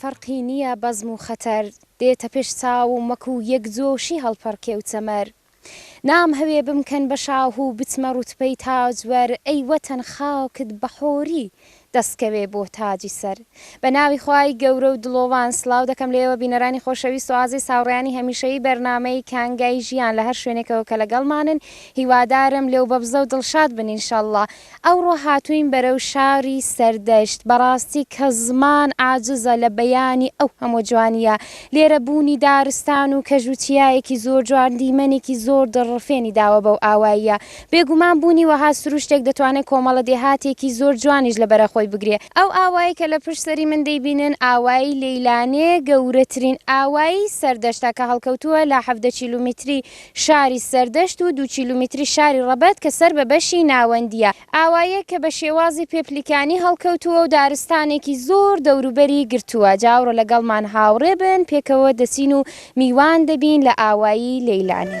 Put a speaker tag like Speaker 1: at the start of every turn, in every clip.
Speaker 1: فەرقی نییە بەزم و خەتەر. دێتە پێش چاوم وەکو یەک جۆشی هەڵپەڕکێ و چەمەر نامهەوێ بمکەن بە شاه و بچمە ڕوتبەی تاجوەر ئەی وەتەن خاکت بە حۆری دەست کەوێ بۆ تاجی سەر بە ناوی خوای گەورە و دڵۆڤان سڵاو دەکەم لە ئێوە بینەرانی خۆشەویست و ئازیز هاوڕێیانی هەمیشەیی بەرنامەی کانگای ژیان لە هەر شوێنێکەوە کە لەگەڵمانن هیوادارم لێو بەبزە و دڵشاد بن انشاللە ئەوڕۆ هاتووین بەرەو شاری سەردەشت بەڕاستی کە زمان عاجزە لە بەیانی ئەو هەموو جوانیە لێرە بوونی دارستان و کەژ و چیایەکی زۆر جوان دیمەنێکی زۆر دڵڕفێنی داوە بەو ئاواییە بێگومان بوونی وەها سروشتێک دەتوانێت کۆمەڵە دێهاتێکی زۆر جوانیش لە بەرەخۆی بگرێ ئەو ئاوایەی کە لە پشت سەری من دەیبینن ئاوایی لەیلانێ گەورەترین ئاوایی سەردەشتە کە هەڵکەوتووە لە حەڤدە کیلومیتری شاری سەردەشت و دوو کیلومیتری شاری ڕەبەت کە سەر بە بەشی ناوەندییە ئاواییەک کە بە شێوازی پێپلیکانی هەڵکەوتووە و دارستانێکی زۆر دەوروبەری گرتووە جاوڕێ لەگەڵمان هاوڕێ بن پێکەوە دەچین و میوان دەبین لە ئاوایی لەیلانی.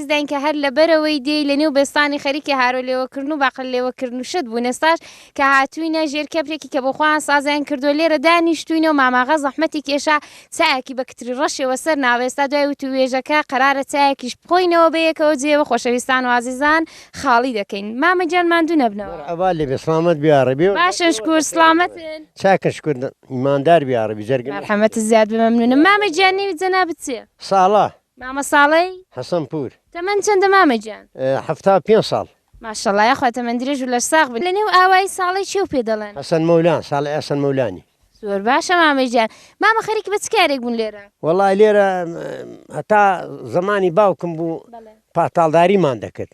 Speaker 1: داین کە هەر لەبەرەوەی دێی لە نێو بێستانی خەریکی هارۆ لێوە کردن و باقلە لێوە کردن و شت بوون ئێستاش کە هاتووینە ژێر کەپرێکی کە بۆ خۆیان سازیان کردووە لێرە دانیشتووینە و ماماغا زەحمەتی کێشا چایەکی بە کتری ڕەشێوە سەر ناوە ئێستا دوای وتووێژەکە قەرارە چایەکیش بخۆینەوە بە یەکەوە جێیەوە خۆشەویستان و ئازیزان خاڵی دەکەین مامە گیان ماندوو نەبنەوە. مەرحەبا لێ بێ سڵامەت
Speaker 2: بی یاڕەبی. باشن شکور
Speaker 1: سڵامەتن. چاکن شکور
Speaker 2: ئیماندار بی یاڕەبی جەرگم. مەرحەمەتت زیاد بێ
Speaker 1: مەمنوونم مامە گیان نێوی جەنابت چیە؟ ساڵە مامە
Speaker 2: ساڵەی؟
Speaker 1: حەسەن پوور.
Speaker 2: تەمەن چەندە مامە
Speaker 1: گیان؟ حەفتا و پێنج ساڵ.
Speaker 2: ماشاءاللە یاخوا
Speaker 1: تەمەن درێژ و لەشساغ بن. لەنێو ئاوایی ساڵەی چێو پێ دەڵێن؟ حەسەن مەولا، ساڵەی
Speaker 2: حەسەن مەولانی. زۆر باشە مامە
Speaker 1: گیان. مامە خەریکی بە چ کارێک بوون لێرە؟ وەڵا لێرە
Speaker 2: هەتا زەمانی باوکم بوو پاتاڵداریمان دەکرد.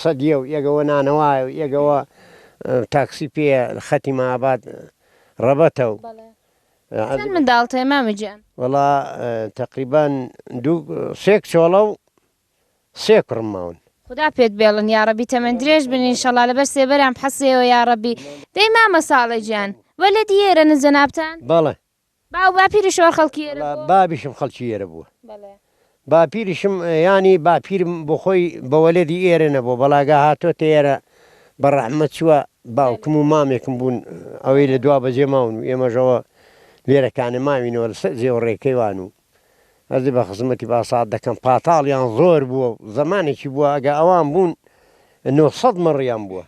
Speaker 2: سەدیە و ێگەوە نانەوایە و ێگەوە تاکسی پێیە خەتی مابات ڕەبەتە و. بەڵێ چەند
Speaker 1: منداڵت هەیە مامە گیان؟ وەڵا
Speaker 2: تەقریبەن دوو سێ کچۆڵە و سێ کوڕم ماون. خودا پێت بێڵن
Speaker 1: یاڕەبی تەمەن درێژ بن ئینشەڵا لەبەر سێبەرام حەسێوە یاڕەبی دەی مامە ساڵە گیان وە لە دیێرەنن جەنابتان؟ بەڵێ
Speaker 2: باو باپیری
Speaker 1: شوان خەڵکی ئێرە بووە؟ وەڵا بابیشم خەڵکی
Speaker 2: ئێرە بووە. بەڵێ. باپیریشم یانی باپیرم بۆخۆی بە وەلەدی ئێرە نەبووە بەڵاگا هاتۆتە ئێرە بە ڕەحمە چووە باوکم و مامێکم بوون ئەوەی لە دوا بەجێ ماون و ئێمەش ئەوە لێرە کانێ ماوینەوە لە سەر جێ و ڕێ کەیوان و ئەزێ بە خزمەتی باساات دەکەم پاتاڵیان زۆر بووە و زەمانێکی بووە ئەگە ئەوان بوون نۆ سەد مەڕیان بووە.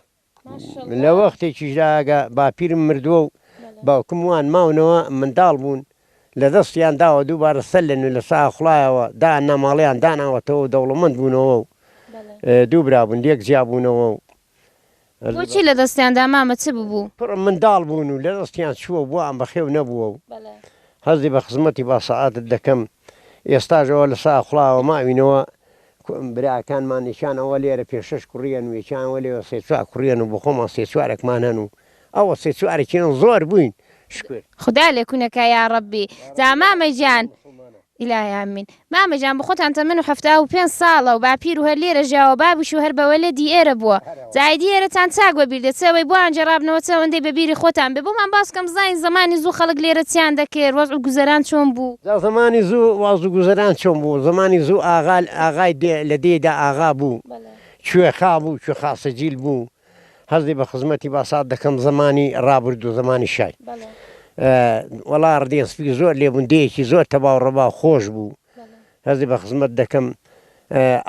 Speaker 2: لە وەختێکیشدا ئەگە باپیرم مردووە و باوکم وان ماونەوە منداڵ بوون لە دەستیان داوە دووبارە سەر لە نوێ لە ساخڵایەوە دانا ماڵیان داناوەتەوە و دەوڵەمەند بوونەوە و دوو برا بوون لێک جیا بوونەوە و
Speaker 1: بۆچی لە دەستیان دا مامە چ ببوو؟ کوڕم منداڵ بوون
Speaker 2: و لە دەستیان چووە و بۆیان بەخێو نەبووە و هەستی بە خزمەتی باسەعادت دەکەم ئێستاش ئەوە لە ساخڵایەوە ماوینەوە براکانمان یەکیان ئەوە لێرە پێنج شەش کوڕییەن و یەکیان ئەوە لێوە سێ چوار کوڕییەن و بۆ خۆمان سێ چوارەکمان هەن و ئەوە سێ چوارەکیان زۆر بووین شکر. خودا لێ کونە کا
Speaker 1: یاڕەبی. جا مامە گیان. الهی امین مامە گیان بۆ خۆتان تەمەن و حەفتا و پێنج ساڵە و باپیر و هەر لێرە ژیاوە بابیش و هەر بەوەلە دی ئێرە بووە. زاهیدی ئێرەتان چاک بە بیر دێ چ ئەوەی بۆیان گێڕابنەوە چ ئەوەندەی بە بیری خۆتان بێ بۆمان باس کەم بزانین زەمانی زوو خەڵک لێرە چیان دەکرد وەزع و گوزەران چۆن بوو؟ جا زەمانی زوو وەزع
Speaker 2: و گوزەران چۆن بوو زەمانی زوو ئاغا ئاغای دێ لە دێی دا ئاغا بوو کوێخا بوو کوێخا سجیل بوو هەزی بە خزمەتی باسات دەکەم زەمانی ڕابردوو زەمانی شای وەڵا ڕدێ سپی زۆر لێ بوون دێیەکی زۆر تەباو ڕەباو خۆش بوو. هەستی بە خزمەت دەکەم.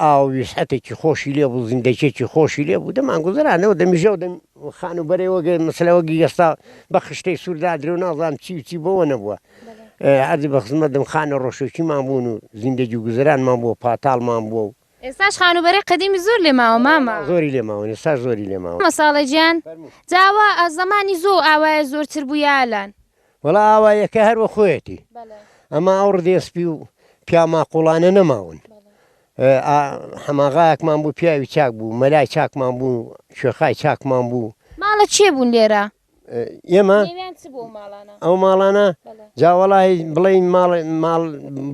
Speaker 2: ئاو ویسعەتێکی خۆشی لێ بوو، زیندەکیەکی خۆشی لێ بوو، دەمان گوزەرانەوە دەمیژەو دەم خانووبەرەوە گە مەسەلە وەگی ئێستا بە خشتەی سوور دادرێ و نازانم چی و چی بۆوە نەبووە. عەرزی بە خزمەت دەم خانە ڕۆشۆکیمان بوون و زیندەگی و گوزەرانمان بووە پاتاڵمان بووە و. ئێستاش خانووبەرەی
Speaker 1: قەدیمی زۆر لێ ماوە مامە؟ زۆری لێ ماون ئێستاش
Speaker 2: زۆری لێ ماون. مامە ساڵە گیان،
Speaker 1: جا ئەوە زەمانی زۆو ئاوایە زۆرتر بوو یا ئەلان؟ وەڵا ئاوا
Speaker 2: یەکە هەر وەخۆیەتی ئەما ئەو ڕدێ سپی و پیا ماقوڵانە نەماون حەماغایەکمان بوو پیاوی چاک بوو مەلای چاکمان بوو شوێخای چاکمان بوو ماڵە چێ بوون
Speaker 1: لێرە ئێمە
Speaker 2: ئەو ماڵانە جاوەڵی بڵێ ماڵ ماڵ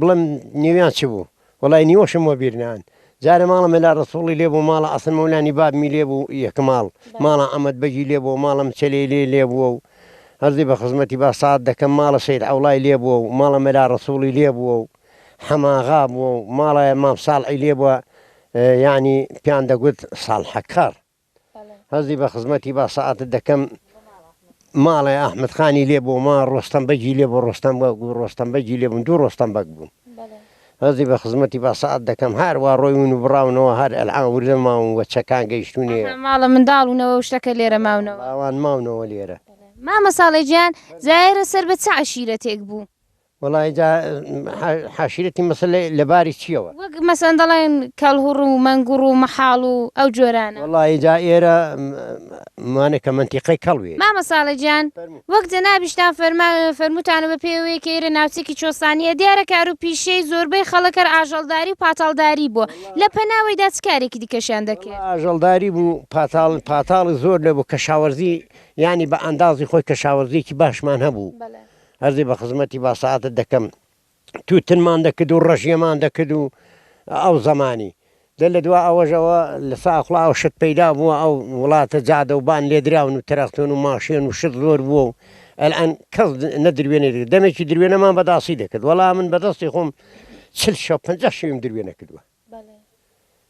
Speaker 2: بڵم نێویان چ بوو وەڵای نیوەشم وەبیر نان جارە ماڵە مەلا ڕەسوڵی لێ بوو ماڵە ئەسن مەولانی بابمی لێ بوو یەک ماڵ ماڵە ئەمەد بەگی لێ بووە ماڵە مچەلێ لێ لێ بووە و هەرزی بە خزمەتی با سات دەکەم ماڵە سید عەوڵای لێ بووە و ماڵە مەلا ڕەسوڵی لێ بووە و حەماغا بووە و ماڵە مام ساڵعی لێ بووە یانی پیان دەگوت ساڵحەکەڕ. هەستی بە خزمەتی با سەعاتت دەکەم ماڵێ ئەحمد خانی لێ بۆ ما ڕۆستەم بەگی لێ بۆ ڕۆستەم بە گو ڕۆستەم بەگی لێ بوون دوو ڕۆستەم بەگ بوون هەزی بە خزمەتی با سەعات دەکەم هەروە ڕۆیون و بڕاونەوە هەر ئەلعا وردە ماون وە چەکان گەیشتونێ ماڵە منداڵونەوە
Speaker 1: و شتەکە لێرە ماونەوە ئەوان ماونەوە
Speaker 2: لێرە مامە ساڵێ
Speaker 1: گیان زایرە سەر بە چ عەشیرەتێک بوو؟ وەڵاهی جا
Speaker 2: حاشرەتی مەسەل لە باری چییەوە؟ وەک مەسەن دەڵێن
Speaker 1: کەڵهوڕ و مەنگوڕ و مەحاڵ و ئەو جۆرانە. وەڵاهی جا ئێرە
Speaker 2: مانە کە مەنتیقەی کەڵوێ. مامە ساڵح گیان
Speaker 1: وەک جەنابیشتان فەرمان فەرمووتانە بە پێی ئەوەی کە ئێرە ناوچەیەکی چۆستانییە دیارە کار و پیشەی زۆربەی خەڵک هەر ئاژەڵداری و پاتاڵداری بووە، لە پەناوەیدا چ کارێکی دیکەشیان دەکرد؟ وەڵا ئاژەڵداری بوو
Speaker 2: پاتاڵ پاتاڵی زۆر نەبوو کەشاوەرزی یانی بە ئەندازی خۆی کەشاوەرزییەکی باشمان هەبوو. هەرزی بە خزمەتی با ساتت دەکەم تووتنمان دەکرد و ڕەشیەمان دەکرد و ئەو زمانی دە لە دوا ئەوەژەوە لە ساخڵا ئەو شت پەیدا بووە ئەو وڵاتە جادە و بان لێدراون و تەرەختون و ماشێن و شت زۆر بووە و ئەلان کەس نەدروێنێ دەمێکی دروێنەمان بەداسی دەکرد وەڵا من بەدەستی خۆم چل شە پەنج شویم دروێنە کردووە. بەڵێ.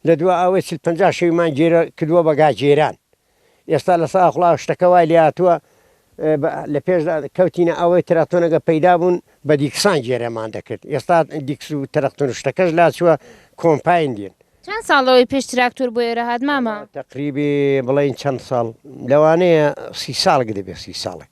Speaker 2: لە دوا ئاوێ چل پەنجا شەویمان گێرە کردووە بە گا گێران. ئێستا لە ساخڵاو شتەکە وای لێ هاتووە بە لە پێشدا کەوتینە ئەوەی تراکتۆنەگە پەیدا بوون بە دیکسان گێرەمان دەکرد ئێستا دیکس و ترەکتۆن و شتەکەش لا چووە کۆمپاین دێن. چەند ساڵ لەوەی پێش
Speaker 1: تراکتۆر بۆ ئێرە هات مامە؟ تەقریبی
Speaker 2: بڵێین چەند ساڵ لەوانەیە سی ساڵک دەبێ سی ساڵک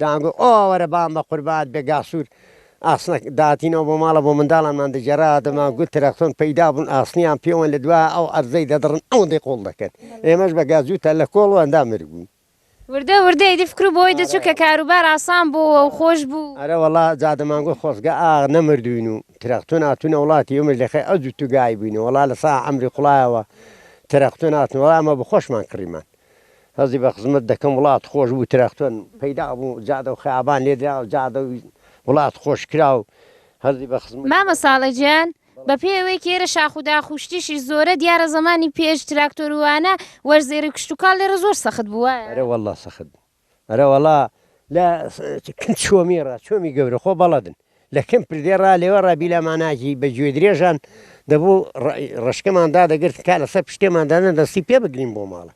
Speaker 2: دان گوت، ئۆ وەرە بام بە قوربات بێ گاسوور ئاسنەک داتینەوە بۆ ماڵە بۆ منداڵانمان دەگێڕا، دەمان گوت ترەختۆن پەیدا بوون ئاسنیان پێوەن لە دوا ئەو عەرزەی دەدڕن ئەوەندەی قۆڵ دەکەن، ئێمەش بە گازووتە لە کۆڵ و ئەندام مرگ بووین. وردە وردە
Speaker 1: ئیدی فکرو بەوەی دەچوو کە کاروبار ئاسان بۆوە و خۆش بوو. ئەرە وەڵا جا دەمان
Speaker 2: گوت خۆزگە ئاغ نەمردووین و ترەختۆن هاتوونە وڵاتی ئێمەش لە خەی ئەو جووت و گایە بووینە، وەڵا لە سا عەمری قوڵایەوە ترەختۆن هاتن وەڵا ئەمە بە خۆشمان کڕیمان. هەستی بە خزمەت دەکەم وڵات خۆش بوو تراکتۆر پەیدا بوو جادە و خەیابان لێ درا و جادە و وڵات خۆش کرا و هەستی بە خزمەت. مامە ساڵح گیان
Speaker 1: بە پێی ئەوەی کە ئێرە شاخ و داخ و شتیشی زۆرە دیارە زەمانی پێش تراکتۆر و وانە وەرزێری و کشتوکاڵ لێرە زۆر سەخت بوو وایە؟ ئەرێ وەڵڵا سەخت
Speaker 2: بوو. ئەرە وەڵا لە چۆمی ڕا چۆمی گەورە خۆ بەڵەدن لە کەم پردێ ڕا لێوە ڕا بیلا ماناجی بە گوێ درێژان دەبوو ڕشکەمان دادەگرت کا لەسەر پشتێماندانە دەستی پێ بگرین بۆ ماڵە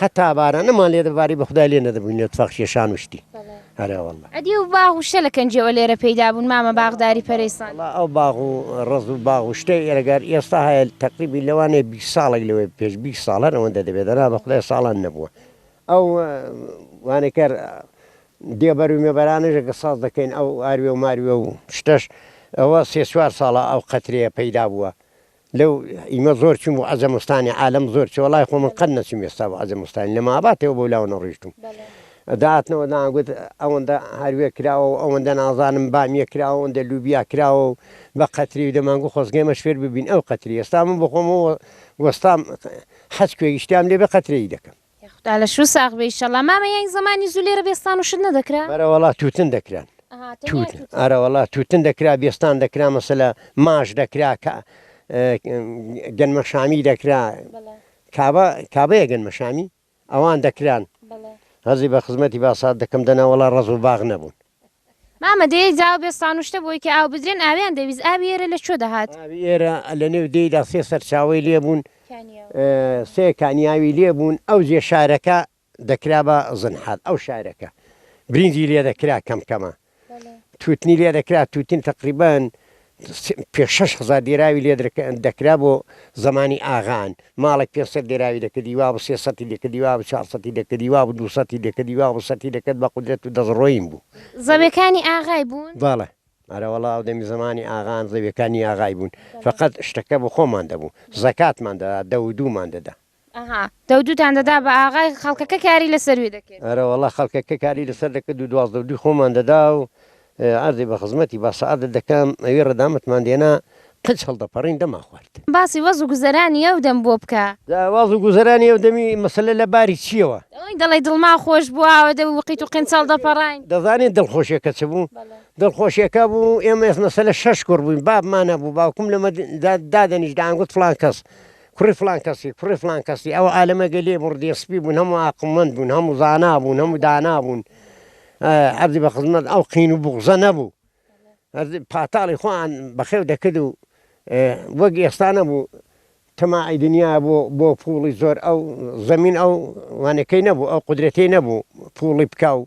Speaker 2: حتا بارە نەمان لێ دەباری بەخدا لێ نەدەبووین لە تفاق شێشان وشتی هەرەوەڵ ئەدی و باغ و شە لە
Speaker 1: کەنجەوە لێرە پێدا بوون مامە باغداری پەرێسان ئەو باغ و
Speaker 2: ڕز و باغ و شتەی ئێرەگار ئێستا هەیە تەقریبی لەوانێ بی ساڵێک لەوەی پێش بی ساڵەر ئەوەندە دەبێت دەنا بەخدای ساڵان نەبووە ئەو وانەکەر دێ بەرو مێبەرانەش ئەگەر ساز دەکەین ئەو ئاروێ و ماروێ و شتەش ئەوە سێ چوار ساڵە ئەو قەترەیە پەیدا بووە لەو ئیمە زۆر چووم بۆ عەجەمستانی عالەم زۆر چووە وەڵای خۆ من قەت نەچووم ئێستا بۆ عەجەمستانی لە ماباتێەوە بۆ لاوە نەڕۆیشتووم داتنەوە دان گوت ئەوەندە هاروێ کراوە و ئەوەندە نازانم بامیە کراوە ئەوەندە لوبیا کراوە و بە قەتری و دەمانگو خۆزگەمەش فێر ببین ئەو قەتری ئێستا من بۆ خۆمەوە وەستام حەج کوێگیشتیان لێ بە قەترەی دەکەم یاخودا لەشو ساغ
Speaker 1: بی ئیشەڵا. مامە یانی زەمانی زوو لێرە بێستان و شت نەدەکرا؟ بەرەوەڵا توتن دەکران.
Speaker 2: ئەها تەنیا توتن. توتن. ئەرەوەڵا توتن دەکرا بێستان دەکرا مەسەلە ماش دەکرا کە گەنمە شامی دەکرا بەڵێ کابە کابەیە گەنمە شامی ئەوان دەکران. بەڵێ. هەزی بە خزمەتی باسات دەکەم دەنا وەڵا ڕەز و باغ نەبوون. مامە
Speaker 1: دێیەی زاو بێ سانوشتە بۆی کە ئاو بدرێن ئاویان دەویست ئاوی ئێرە لە چۆ دەهات؟ ئاوی ئێرە لە نێو
Speaker 2: دێیدا سێ سەرچاوەی لێ بوون سێ کانیاوی لێ بوون ئەو جێ شارەکە دەکرا بە زنحال ئەو شارەکە برینجی لێ دەکرا کەم کەمە توتنی لێ دەکرا توتن تەقریبەن پێ شەش هەزار دێراوی لێ دەکرا بۆ زەمانی ئاغان ماڵێک پێ سەت دێراوی دەکردی وابوو سێ سەتی دەکردی وابوو چوار سەتی دەکردی وابوو دوو سەتی دەکردی وابوو سەتی دەکرد بە قودرەت و دەسڕۆیین بوو. زەویەکانی
Speaker 1: ئاغای بوون؟ بەڵێ ئەرەوەڵا
Speaker 2: ئەو دەمی زەمانی ئاغان زەویەکانی ئاغای بوون فەقەت شتەکە بۆ خۆمان دەبوو زەکاتمان دەدا دە و دوومان دەدا ئەها دەودووتان
Speaker 1: دەدا بە ئاغای خەڵکەکە کاری لەسەر وێ دەکرد. ئەرەوەڵا خەڵکەکە کاری
Speaker 2: لەسەر دەکرد و دوازدە و دووی خۆمان دەدا و عەرزی بە خزمەتی با سەعادەت دەکەم، ئەوی ڕەدامەتمان دێنا قنج هەڵدەپەڕین دەمانخوارد. باسی وەز و گوزەرانی
Speaker 1: ئەو دەم بۆ بکە. جا وەز و گوزەرانی
Speaker 2: ئەو دەمی مەسەلە لە باری چییەوە؟ ئەوەی دەڵێی دڵمان
Speaker 1: خۆش بوو ئاوە دەم و قیت و قنج هەڵدەپەڕاین. دەزانیت دڵخۆشییەکە
Speaker 2: چ بوو؟ دڵخۆشییەکە بوو ئێمە مەسەلە شەش کوڕ بووین، بابمان هەبوو، باوکم لەمە دادەنیشت دەیانگوت فڵان کەس کوڕی فڵان کەسی، کوڕی فڵان کەسی، ئەوە ئالەمەگە لێ بوو، ڕدێ سپی بوون، هەموو ئاقڵمەند بوون، هەموو زانا بوون، هەموو دانا بوون، عەردی بە خزمەت ئەو قین و بوغزە نەبوو، پاتاڵی خۆیان بەخێو دەکرد و وەک ئێستا نەبوو تەماعی دنیا بۆ بۆ پووڵی زۆر ئەو زەمین ئەو وانەکەی نەبوو، ئەو قودرەتەی نەبوو پووڵی بکا و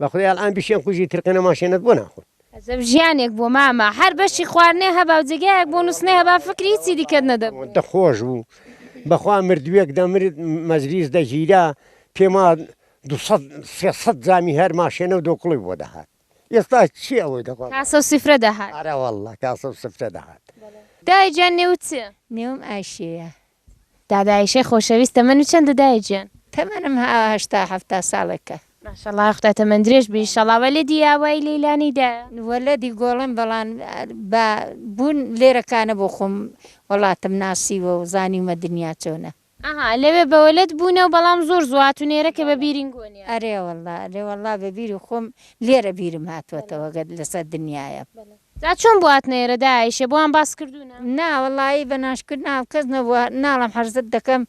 Speaker 2: بەخوای ئەلئان بشێن قوژی ترقێنە ماشێنەت بۆ ناخۆن. عەجەب ژیانێک بوو
Speaker 1: مامە هەر بەشی خواردنێ هەبا و جێگایەک بۆ نوستنێ هەبا فکری هیچی دیکەت نەدەبوو. ئەوەندە خۆش بوو
Speaker 2: بەخوا مردوێک دەمرد مەجلیس دەگیرا پێما دوو سەد سێ سەد جامی هەر ماشێنە و دۆکڵی بۆ دەهات ئێستا چی ئەوەی دەخوا. کاسە و سفرە دەهات.
Speaker 1: ئەرەوەڵڵە کاسە
Speaker 2: و سفرە دەهات. دایە گیان
Speaker 1: نێوت چیە؟ نێوم ئایشەیە
Speaker 3: دادە ئایشەی
Speaker 1: خۆشەویست تەمەنت چەندە دایە گیان؟ تەمەنم هەشتا
Speaker 3: هەفتا ساڵێکە. ماشاءاللە خودا
Speaker 1: تەمەن درێژ بی ئیشەڵا وەلەدی ئاوایی لەیلانی دایە؟ وەلەدی گۆڵم
Speaker 3: بەڵام با بوون لێرە کانە بۆ خۆم وەڵاتم ناسیوە و زانیومە دنیا چۆنە. ئەها لەوێ بە
Speaker 1: وەلەد بوونە و بەڵام زۆر زوو هاتوون ئێرە کە بە بیرین گۆنیە. ئەرێ وەڵا ئەرێ وەڵا
Speaker 3: بە بیری خۆم لێرە بیرم هاتووەتەوە گەر لەسەر دنیایە. بەلێ. جا چۆن
Speaker 1: بواتنە ئێرە دایە ئیشێ بۆیان باس کردوونە؟ نا وەڵایی بە
Speaker 3: ناشکردن هاو کەس نەبووە ناڵێم حەرزت دەکەم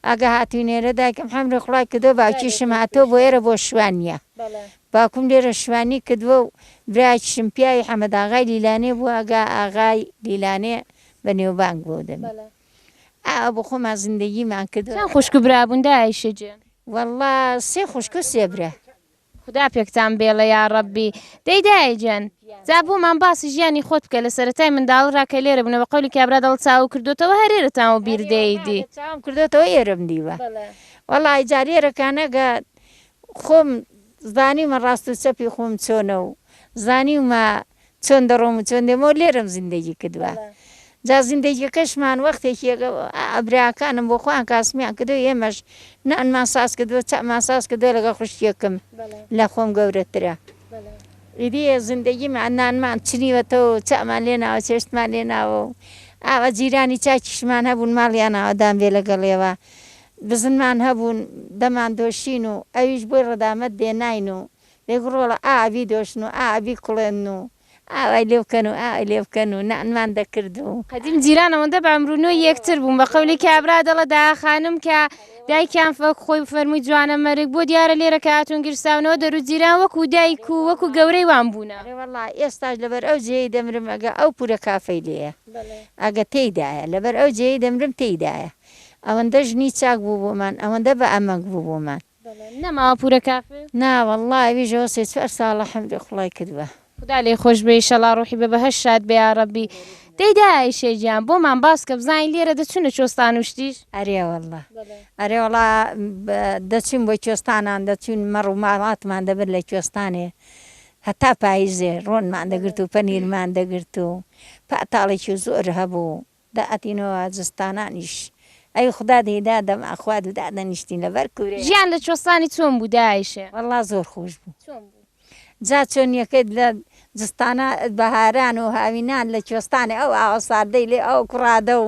Speaker 3: ئەگە هاتووینە ئێرە دایکم حەمری خوڵای کردووە باوکیشم هاتووە بۆ ئێرە بۆ شوانیە باوکم لێرە شوانی کردووە و برایەکیشم پیاوی حەمەد ئاغای لیلانێ بووە ئەگا ئاغای لیلانێ بە نێوبانگ بووە و دەبێ ئاوا بۆ خۆمان زیندەگیمان کردووە. چەند خوشک و برا بوون دایە
Speaker 1: ئیشێ گیان؟ وەڵڵا سێ
Speaker 3: خوشک و سێ برا. خودا
Speaker 1: پێکتان بێڵێ یاڕەبی. دەی دایە گیان جا بۆمان باسی ژیانی خۆت بکە لەسەرەتای منداڵڕا کە لێرە بونە بە قەولی کابرا دەڵت چاوو کردۆتەوە هەر ئێرەتان وە بیر دێیدی. چاوم کردۆتەوە
Speaker 3: ئێرەم دیوە وەڵاهی جار ئێرە کانەگا خۆم زانیومە ڕاست و چەپی خۆم چۆنە و زانیومە چۆن دەڕۆم و چۆن دێمەوە لێرەم زیندەگی کردوە جا زیندەگیەکەشمان وەختێکی براکانم بۆ خۆیان کاسمیان کردو ئێمەش نانمان ساز کردوە چامان ساز کردوە لەگەڵ خوشکێکم لە خۆم گەورەترە ئیدی زیندەگیمان نانمان چنیوەتەوە و چامان لێ ناوە چێشتمان لێ ناوە و ئاوا جیرانی چاکیشمان هەبوون ماڵیان ئاوەدان بێ لەگەڵیەوە بزنمان هەبوون دەمان دۆشین و ئەویش بۆی ڕەدامەت دێناین و دەک ڕۆڵە ئا ئەبی دۆشن و ئا ئەبی کوڵێنن و ئا وای لێ بکەن و ئا وای لێ بکەن و نانمان دەکرد و. قەدیم جیران ئەوەندە بە
Speaker 1: عەمرو نۆی یەکتر بوون بە قەولی کابرا دەڵێت داا خانم کە دایکیان وەک خۆی فەرمووی جوانە مەرگ بۆ دیارە لێرە کە هاتوون گیرساونەوە دەرو جیران وەکو دایک و وەکو گەورەی وان بوونە. ئەرێ وەڵا ئێستاش
Speaker 3: لەبەر ئەو جێیەی دەمرم ئەگە ئەو پورە کافەی لێیە ئەگە تێیدایە لەبەر ئەو جێیەی دەمرم تێیدایە ئەوەندە ژنی چاک بوو بۆمان ئەوەندە بە ئەمەگ بوو بۆمان. بەڵێ نە ماوە پورە
Speaker 1: کافر. نا وەڵا ئەویش
Speaker 3: ئەوە سێ چوار ساڵە حەمدی قوڵای کردوە. خودا لێی خۆش بێ
Speaker 1: ئیشەڵا ڕوحی بە بەهەشت شاد بێ یاڕەبی دەی دایە ئەیشێ گیان بۆمان باسکە بزانین لێرە دەچونە چۆستان و شتیش. ئەرێ وەڵا
Speaker 3: ئەرێ وەڵا دەچوین بۆ کوێستانان دەچوین مەڕ و ماڵاتمان دەبرد لە کوێستانێ هەتا پایزێ ڕۆنمان دەگرت و پەنیرمان دەگرت و پاتاڵێکی زۆر هەبوو دا ئەتینەوە زستانانیش ئەی خودا دەی دادەم ئەخوا دوو دادەنیشتین لەبەر کورێ. ژیان لە چۆستانی
Speaker 1: چۆن بوو دایشێ. وەڵا زۆر خۆش
Speaker 3: بوو چۆن بوو. جا چۆنیەکەی لە زستانا بەهاران و هاوینان لە چۆستانێ ئەو ئاوە ساردەی لێ ئەو کوڕادە و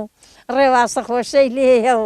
Speaker 3: ڕێواسە خۆشەی لێیە و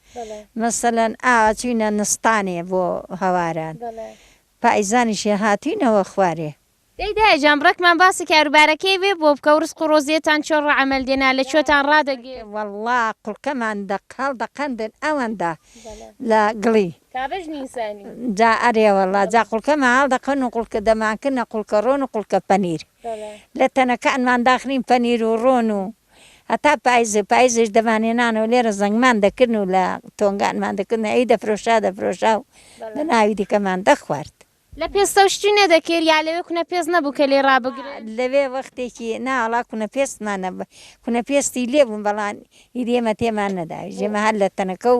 Speaker 3: مەسەلەن ئا چوینە نستانێ بۆ هەواران پایزانیشێ هاتوینەوە خوارێ. دەی دایە جان
Speaker 1: ڕێکمان باسی کاروبارەکەی وێ بۆ بکە و ڕزق و ڕۆزیەتان چۆن ڕەعەمەل دێنا لە کوێتان ڕادەگرت؟ وەڵڵا
Speaker 3: قوڵکەمان دەق هەڵدەقەندن ئەوەندە لە گڵی. کابش نیسانی.
Speaker 1: جا ئەرێ
Speaker 3: وەڵڵا جا قوڵکەمان هەڵدەقەن و قوڵکە دەمانکردنە قوڵکە ڕۆن و قوڵکە پەنیر لە تەنەکانمان داخنین پەنیر و ڕۆن و. هەتا پایز و پایزیش دەمانهێنان و لێرە زەنگمان دەکردن و لە تۆنگانمان دەکردن ئەی دەفرۆشرا دەفرۆشرا و بە ناوی دیکەمان دەخوارد. لە پێستەوە
Speaker 1: شتی نەدەکرد یا لەوێ کونە پێست نەبوو کە لێی ڕابگرن؟ لەوێ وەختێکی
Speaker 3: نا وەڵا کونە پێستمان نەبوو، کونە پێستی لێ بوو بەڵام ئیدی ئێمە تێمان نەدا ئیدی ئێمە هەر لە تەنەکە و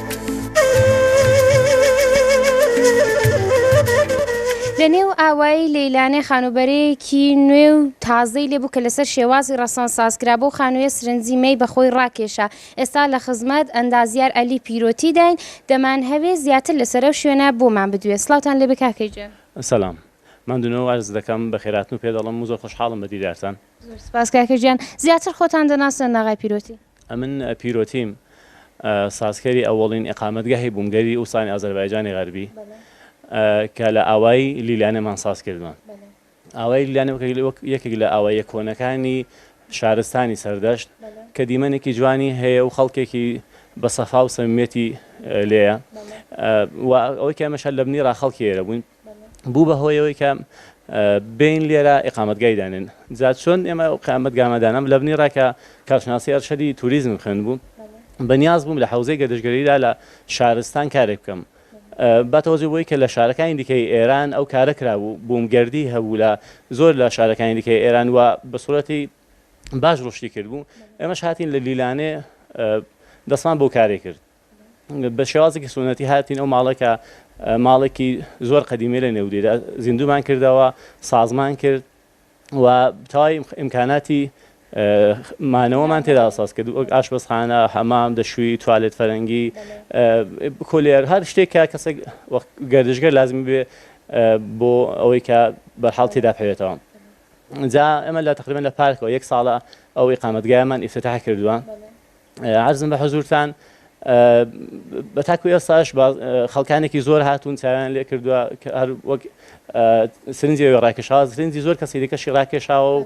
Speaker 1: لەنێو ئاوایی لەیلانێ خانووبەرەیەکی نوێ و تازەی لێ بوو کە لەسەر شێوازی ڕەسەن ساز کرا، بەو خانوویە سرنجی مەی بە خۆی ڕاکێشا. ئێستا لە خزمەت، ئەندازیار عەلی پیرۆتی، داین، دەمانهەوێ زیاتر لەسەر ئەو شوێنە بۆمان بدوێ. سڵاوتان لێ بێ کاکە گیان. سەلام.
Speaker 4: ماندوونەوە وارزت دەکەم، بەخێرهاتن و پێدەڵێم و زۆر خۆشحاڵم بە دیدارتان. زۆر سپاس کاکە گیان.
Speaker 1: زیاتر خۆتان دەناسن لەاغای پیرۆتی. ئەمن پیرۆتیم
Speaker 4: سازکەری ئەوەڵین ئیقامەتگەهی بووم گەری ئوستانی ئازەربایجانی غەربی کە لە ئاوایی لیلانێمان ساز کردوە. ئاوایی لیلانێ وەک یەکێک لە ئاواییە کۆنەکانی شارستانی سەردەشت کە دیمەنێکی جوانی هەیە و خەڵکێکی بە سەفا و سەمیمیەتی لێیە و ئەوەی کە ئێمەش هەر لە بنی ڕا خەڵکی ئێرە بووین، بوو بە هۆی ئەوەی کە بێین لێرە ئیقامەتگای دانێن جا چۆن ئێمە قامەتگامە دانام لە بنی ڕاکە کارشناسی ئەرشەدی توریزمم خوێن بوو بە نیاز بووم لە حەوزەی گەردشگەریدا لە شارستان کارێک بکەم با تەوەجە بۆی کە لە شارەکانی دیکەی ئێران ئەو کارە کرابوو بووم گردی هەبوو لە زۆر لە شارەکانی دیکەی ئێران و بە سوورەتی باش ڕشتی کرد بوو ئێمەش هاتین لە لیلانێ دەستمان بۆ کارێ کرد بە شێوازێکی سوننەتی هاتین ئەو ماڵە کە ماڵێکی زۆر قەدیمی لە نێودێدا زیندومان کردەوە سازمان کرد و تای ئیمکاناتی مانەوەمان تێدا ساز کرد وەک ئاشبەزخانە حەمام دەشووی توالێت فەرەنگی کولێر هەر شتێک کە کەسێک گەردشگەر لازمی بێ بۆ ئەوەی کە بەرحاڵ تێدا پێوێتەوە جا ئەمە لە تقریبان لە پارکەوە یەک ساڵە ئەو ئقامەتگایمان ئفتتاح کردووە عەرزم بە حزوورتان بە تاکو ئێستاش خەڵکانێکی زۆر هاتوون چاویان لێ کردووە هەر وەک سرنجی ڕاکێشاوە سرنجی زۆر کەسی دیکەشی ڕاکێشاوە و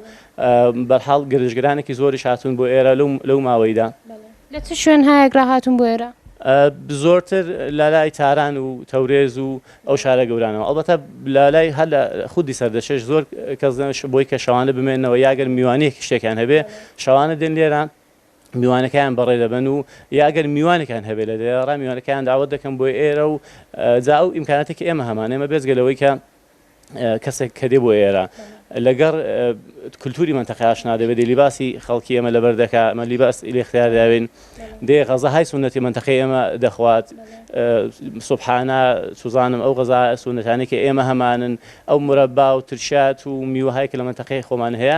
Speaker 4: بەرحاڵ گرژگرانێکی زۆری هاتوون بۆ ئێرە لەو ماوەیدا لە چ شوێن
Speaker 1: هایەکرا هاتوون بۆ ئێرە زۆرتر
Speaker 4: لەلای تاران و تەورێز و ئەو شارە گەورانەوە ئەڵبەتە لەلای هەر لە خودی سەردەشێش زۆر کەس بۆی کە شەوانە بمێنەوە یاگەر میوانەیەکی شتێکیان هەبێ شەوانە دێن لێرە میوانەکەیان بەڕێ دەبەن و یا ئەگەر میوانێکیان هەبێت لە دەیەڕا میوانەکەیان داوەت دەکەن بۆ ئێرە و جا ئەو ئیمکاناتێک کە ئێمە هەمان ئێمە بێجگە لەوەی کە کەسێک کە دێ بۆ ئێرە لەگەڕ کللتوری منتەقە ئاشنا دەبێت دێ لیباسی خەڵکی ئێمە لەبەر دەکە ئەمە لیباس لێ اختیار داوێن دێ غەزە های سونەتی منتەقە ئێمە دەخوات سبحانە سوزانم ئەو غەزا سونەتانێکی ئێمە هەمانن ئەو مرەبا و ترشات و میوەهای کە لە منتەقەی خۆمان هەیە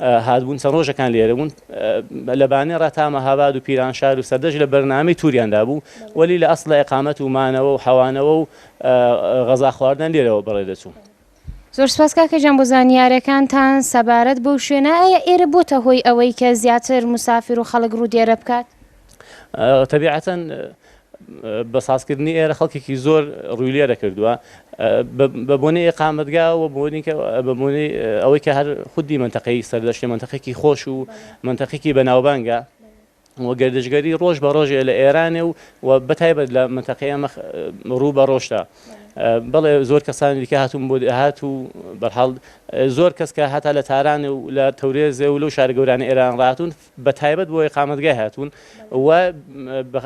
Speaker 4: هاتبوون چەند ڕۆژەکان لێرە بوون لە بانێ ڕا تا مەهاباد و پیرانشار و سەردەشت لە بەرنامەی توریان دابوو وەلی لە ئەسڵا ئیقامەت و مانەوە و حەوانەوە و غەزا خواردنیان لێرەوە بەڕێ دەچوو. زۆر سپاس
Speaker 1: کاکە گیان بۆ زانیارەکانتان سەبارەت بەو شوێنە، ئایا ئێرە بۆتە هۆی ئەوەی کە زیاتر موسافر و خەڵک ڕوو دێرە بکات؟
Speaker 4: تەبیعەتەن بە سازکردنی ئێرە خەڵکێکی زۆر ڕووی لێرە کردووە بە بۆنەی ئێقامەتگا و بە بۆنەی ئەوەی کە هەر خودی منتەقەی سەردەشتێ منتەقێکی خۆش و منتەقێکی بەناوبانگە و گردشگەری ڕۆژ بە ڕۆژێ لە ئێرانێ و و بەتایبەت لە منتەقەی ئەمە ڕوو بە ڕۆشتە بەڵێ زۆر کەسانی دیکە هاتوون بۆ هات و بەرحاڵ زۆر کەس کە هەتا لە تارانێ و لە تەورێزێ و لەو شارە گەورانە ئێران ڕاتون بە تایبەت بۆ ئیقامەتگای هاتوون و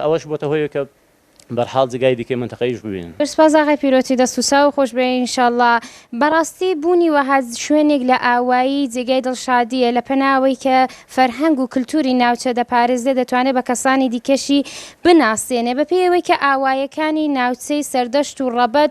Speaker 4: ئەوەش بۆتە هۆی کە بەرحاڵ جێگای دیکەی مەنتەقەیش ببینن. زۆر سپاس ئاغای پیرۆتی
Speaker 1: دەست و چاو خۆش بێ ان شاء اللە بەڕاستی بوونی وەها شوێنێک لە ئاوایی جێگای دڵشادیە لە پەنا ئەوەی کە فەرهەنگ و کلتوری ناوچە دەپارێزێ دەتوانێ بە کەسانی دیکەشی بناسێنێ بەپێی ئەوەی کە ئاوایەکانی ناوچەی سەردەشت و ڕەبەت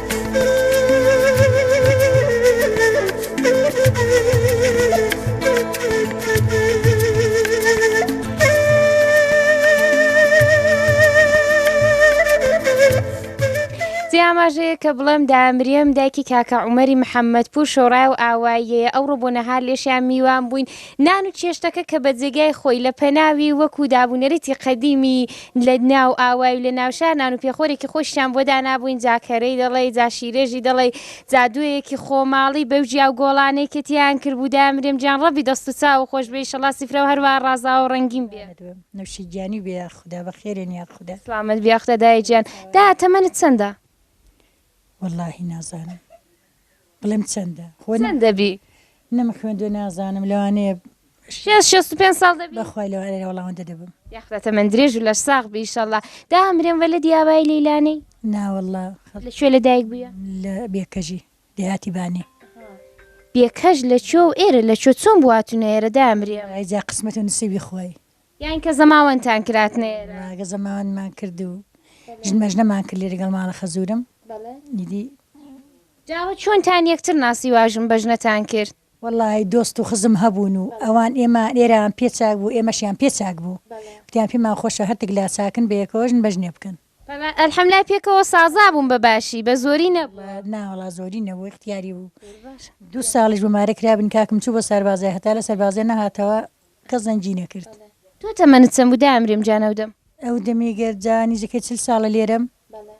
Speaker 1: جێ ئاماژەیە کە بڵێم دامریم دایکی کاکە عمەری محەممەد پور شۆڕای و ئاواییەیە ئەو ڕۆ بۆ نەهار لێشیان میوان بووین نان و چێشتەکە کە بە جێگای خۆی لە پەناوی وەکو دابوونەرێتی قەدیمی لە ناو ئاوای و لە ناو شار نان و پێخۆرێکی خۆشیشان بۆ دانابووین، جا کەرەی دەڵێی، جا شیرێژی دەڵێی، جا دوێیەکی خۆماڵی بەو جیا و گۆڵانەی کە تێیان کربوو دایە، مرێم گیان ڕەبی دەست و چاوو خۆش بێ ئیشەڵا سفرەو هەروا ڕازاوەو ڕەنگین بێ. سڵامەت بم نوشی گیانی
Speaker 3: بێ یاخودا بەخێرێن یاخودا. سڵامەت بی یاخودا دایە
Speaker 1: گیان. دایە تەمەنت چەندە؟
Speaker 3: وەڵاهی نازانم. بڵێم چەندە خۆ چەند دەبی
Speaker 1: نەم خوێندوە
Speaker 3: نازانم لەوانەیە شێست شێست و
Speaker 1: پێنج ساڵ دەبی بەخوای لەوانەیە وەڵامەندە
Speaker 3: دەبم یاخدا تەمەن درێژ و
Speaker 1: لەش ساغ بی ئیشەڵا دا ئەمرێم وەلە دیابای لەیلانەی ناوەڵا لە
Speaker 3: کوێ لە دایک
Speaker 1: بووە لە بێکەژی
Speaker 3: دێهاتی بانی بێکەش
Speaker 1: لە چۆ و ئێرە لە چۆ چۆن بواتونە ئێرە دا ئەمرێم ئایجا قسمەت و نسیبی
Speaker 3: خۆی یانی کە
Speaker 1: زەماوەندتان کراتنە ئێرە. بەڵێ کە زەماوەندمان
Speaker 3: کرد و ژنمەژنەمان کرد لێرە گەڵ ماڵە خەزوورم
Speaker 1: ئیدی. جا ئەوە چۆنتان یەکتر ناسی وا ژنبەژنەتان کرد؟
Speaker 5: وەڵاهی دۆست و خزم هەبوون و ئەوان ئێمە ئێرەیان پێ چاک بوو ئێمەشیان پێ چاک بوو وتیان پێمان خۆشە هەردک لا چاکن بە یەکەوە ژنبەژنێ بکەن. بەڵێ ئەلحەملای
Speaker 1: پێکەوە سازا بوون بە باشی بە زۆری نەبوو. نا وەڵا زۆری نەبوو
Speaker 5: ئیختیاری بوو دوو ساڵیش بۆ مارە کرابن کاکم چوو بۆ سەربازێ هەتا لە سەربازێ نەهاتەوە کەس زەنگی نەکرد. تۆ تەمەنت چەند
Speaker 1: بوو دایمرێم گیان ئەو دەم؟ ئەو دەمی گەر
Speaker 5: جا نیزیکەی چل ساڵە لێرەم. بەڵێ.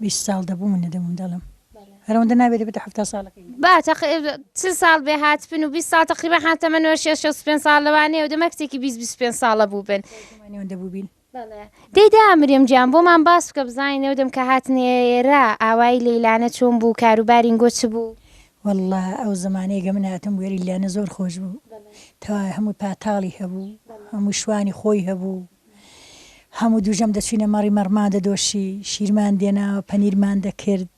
Speaker 5: بیست ساڵ دەبوو من دەمم دەڵێم. بەڵێ. هەر ئەوەندە نابێ دەبێتە حەفتا ساڵەکەی من. با تەق
Speaker 1: چل ساڵ بێ هاتبن و بیست ساڵ تەقریبەن حا تەمەن وەرشێ شەست و پێنج ساڵ لەوانەیە ئەو دەمە کچێکی بیست بیست و پێنج ساڵە بووبن. دایکم وانەیە ئەوەندە بووبین.
Speaker 5: بەڵێ دەی دە
Speaker 1: مریەم گیان بۆمان باس بکە بزانین ئەو دەم کە هاتنە ئێرە ئاوایی لەیلانە چۆن بوو کار و باری نگۆ چ بوو؟ وەڵڵا ئەو
Speaker 5: زمانەی گە من هاتم بوێری لانە زۆر خۆش بوو تەوای هەمووی پاتاڵی هەبوو هەمووی شوانی خۆی هەبوو هەموو دووژەم دەچوینە مەڕی مەڕمان دەدۆشی شیرمان دێناوە پەنیرمان دەکرد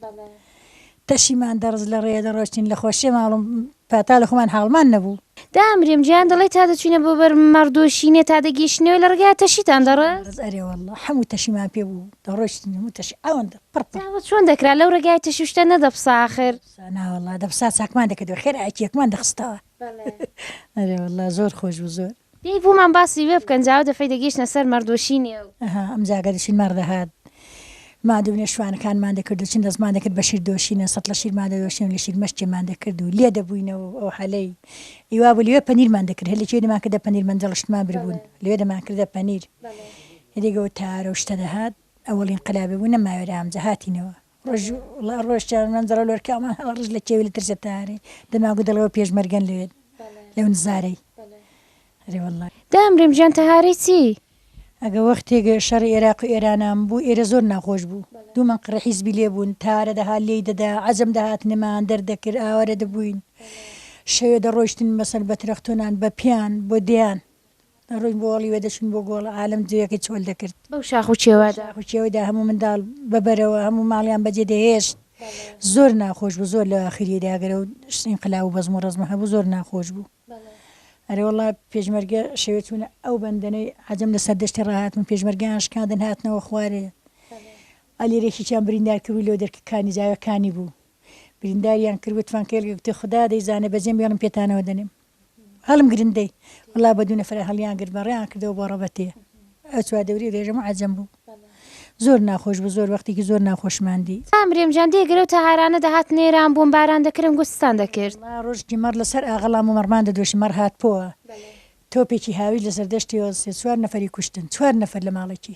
Speaker 5: تەشیمان دەڕز لە ڕێیە دەڕۆشتین لە خۆشیە ماڵم پاتا لە خۆمان حاڵمان نەبوو. دامرم گیان
Speaker 1: دەڵێی تا دەچوینە بۆ بەر مەڕ دۆشینێ تا دەگەیشتینەوە لە ڕێگایا تەشیتان دەڕز؟ ئەرێ واللە هەموو
Speaker 5: تەشیمان پێ بوو دەڕۆشتین هەموو تەشی ئەوەندە پڕ پڕ. جا چۆن دەکرا
Speaker 1: لەو ڕێگایە تەشی و شتە نەدەپسا ئاخر؟ نا واللە دەپسا
Speaker 5: چاکمان دەکردەوە خێرا ئەکیەکمان دەخستەوە. بەڵێ. ئەرێ واللە زۆر خۆش بوو زۆر. پێی بوومان باسی
Speaker 1: وێ بکەن جا ئەو دەفەی دەگەیشتنە سەر مەڕ دۆشینێ و. ئەها ئەمجا ئەگەر دەچین مەڕ
Speaker 5: دەهات ماندوو بنە شوانەکانمان دەکرد و چن دەستمان دەکرد بە شیر دۆشینە سەتڵە شیرمان دەدۆشین و لە شیر مەشکێمان دەکرد و لێ دەبووینەوە و ئەو حەلەی ی وابوو لەوێ پەنیرمان دەکرد هەر لە کوێ دەمان کردە پەنیر مەنجەڵ و شتمان بربوون لەوێ دەمان کردە پەنیر ئیدی گەوتارە و شتە دەهات ئەوەڵین قەلابێ بوو نەماوێرا ئەمجا هاتینەوە ڕۆژ وڵا ڕۆژ چاوی من دەڵێ لۆر کامان هەڵە ڕژ لە کێوی لە ترسێ تارێ دەماگو دەڵێەوە پێشمەرگەن لەوێت لەو نزارەی ئەرێ واللە دامرم گیان تەهارەی
Speaker 1: چی؟ ئەگە وەختێک
Speaker 5: شەڕی ئێراق و ئێرانان بوو ئێرە زۆر ناخۆش بوو دوو مەنقڕی حیزبی لێ بوون تارە دەهات لێی دەدا عەجەم دەهاتنەمان دەردەکرد ئاوارە دەبووین شەوێ دەڕۆیشتن مەسەل بە ترەختۆنان بە پیان بۆ دێیان دەڕۆین بۆ ئاڵی وێ دەچووین بۆ گۆڵ عالەم جێیەکەی چۆل دەکرد. بەو شاخ و چێوەدا.
Speaker 1: شاخ و چێوەدا هەموو منداڵ
Speaker 5: بە بەرەوە هەموو ماڵیان بەجێ دەهێشت زۆر ناخۆش بوو زۆر لە ئاخریدا گەر ئەو ئینقلاب و بەزم و ڕەزمە هەبوو زۆر ناخۆش بوو ئەرێ وەڵا پێشمەرگە شەوێ چوون ئەو بەندەنەی عەجەم لە سەردەشتی ڕاهاتن پێشمەرگەیان شکاندن هاتنەوە خوارێ ئەلیرێکیان بریندار کرد و لەو دەرکە کانی جاوەکانی بوو برینداریان کرد وتفان کێلگە گوتی خودا دەیزانێ بەجێم بێڵم پێتانەوە دەنێم هەڵم گرن دەی وەڵا بە دوو نەفرە هەڵیان گرت بە ڕێیان کردەوە بۆ ڕەبەتێ ئەو چوار دەوری رێژەم و عەجەم بوو زۆر ناخۆش بوو زۆر وەختێکی زۆر ناخۆشمان دی. کامریم جان دێ
Speaker 1: گەرەو تەهارانە دەهات نێران بووم باران دەکرم گورجستان دەکرد. وەڵا ڕۆژکی مەڕ لە سەر
Speaker 5: ئاغەڵان بوو مەڕمان دەدۆشی مەڕ هات پۆوە تۆپێکی هاویش لە سەردەشتیەوە سێ چوار نەفەری کوشتن چوار نەفەر لە ماڵێکی.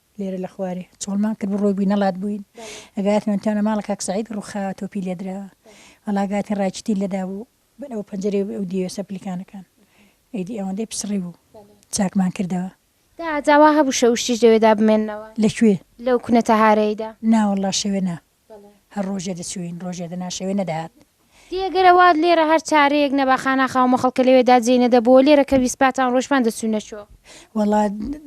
Speaker 5: لێرە لە خوارێ چۆڵمان کرد بڕۆ بووی نەڵات بووین ئەگاتمان تانە ماڵە کاک سعید ڕوخا تۆپی لێدرا هەڵاگاتین ڕایچتی لەدا بوو بەر ئەو پەنجەرێ ئەو دیوێ سەپلیکانەکان ئەیدی ئەوەندەی پسڕی بوو چاکمان کردەوە. داعەت ئاوا هەبوو
Speaker 1: شەوشتیش لەوێدا بمێننەوە؟ لە کوێ؟ لەو
Speaker 5: کونە تەهارەیدا.
Speaker 1: نا وەڵڵا شەوێ نا.
Speaker 5: هەر ڕۆژێ دەچووین ڕۆژێ دەناشەوێ نەدەهات. دێ گەر ئەوا
Speaker 1: لێرە هەر چارەیەک نەبا خانا خاومە خەڵکە لەوێدا جێی نەدەبۆوە لێرە کە ویسپاتان ڕۆیشمان دەچووینە چۆ؟ وەڵا